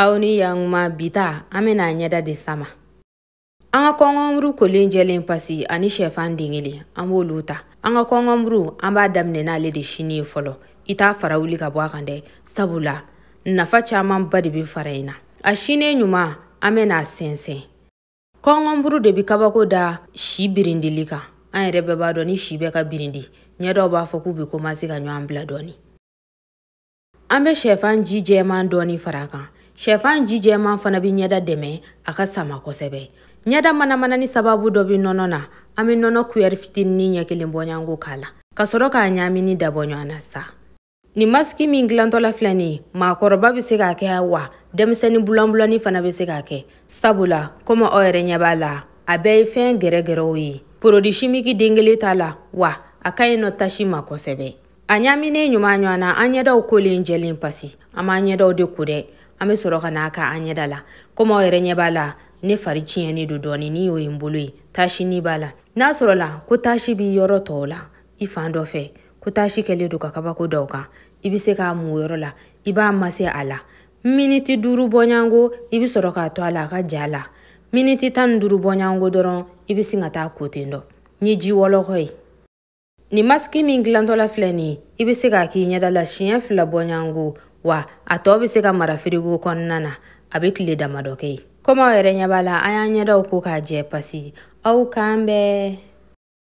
aw ni yankuma bi ta an bɛna an ɲɛda de sama an ka kɔngɔnburu kolen jɛlen pasi ani shɛfan den kelen an b'olu ta an ka kɔngɔnburu an b'a daminɛ n'ale de sini ye fɔlɔ i t'a fara wuli ka bɔ a kan dɛ sabula nafa camanba de bɛ fara in na a sinen ɲuman an bɛna a sɛnsɛn kɔngɔnburu de bɛ kabako da si birindili kan an yɛrɛ bɛɛ b'a dɔn ni si bɛ ka birindi ɲɛdaw b'a fɔ k'u bɛ komanse ka ɲɔgɔn bila dɔɔni an bɛ shɛfan ji jɛman dɔɔni fara a kan shɛfan ji jɛman fana bɛ ɲɛda dɛmɛ a ka sama kosɛbɛ ɲɛda manamanani sababu dɔ bɛ nɔnɔ na an bɛ nɔnɔ kuyɛri fitinin ɲɛ kelen bɔɲanko k'a la ka sɔrɔ k'a ɲaami ni dabɔ ɲɔgɔn na sa nin masiki min dilantɔla filɛ nin ye maakɔrɔba bɛ se k'a kɛ wa denmisɛnnin bulanbulani fana bɛ se k'a kɛ sabula komi aw yɛrɛ ɲɛ b'a la a bɛɛ ye fɛn gɛrɛgɛrɛw ye porodi simiki den kelen t'a la wa a ka ɲi nɔ tasi ma kosɛbɛ a ɲaaminen ɲuman ɲɔgɔn na an ɲɛdaw kolen jɛlen pasi an b'an ɲɛdaw de ko dɛ an bɛ sɔrɔ ka na a k'an ɲɛda la komi aw yɛrɛ ɲɛ b'a la ne fari tiɲɛnen don dɔɔni ni y'o ye n bolo ye taasinin b'a la n'a sɔrɔla ko taasi b'i yɔrɔ tɔɔw la i fan dɔ fɛ ko taasi kɛlen don ka kabako d'aw kan i bɛ se k'a mu yɔrɔ la i b'a mase a la miniti duuru bɔɲango i bɛ sɔrɔ k'a to a la a ka ja a la miniti tan ni duuru bɔɲango dɔrɔn i bɛ sin ka taa a ko ten dɔ ni ji wɔlɔkɔ ye Nin masiki min dilantɔla filɛ nin ye i bɛ se k'a k'i ɲɛda la siɲɛ fila bɔɲango wa a tɔ bɛ se ka mara firigo kɔnɔna na a bɛ tile damadɔ kɛ yen komi aw yɛrɛ ɲɛ b'a la an y'an ɲɛdaw ko k'a jɛ pasi aw k'an bɛn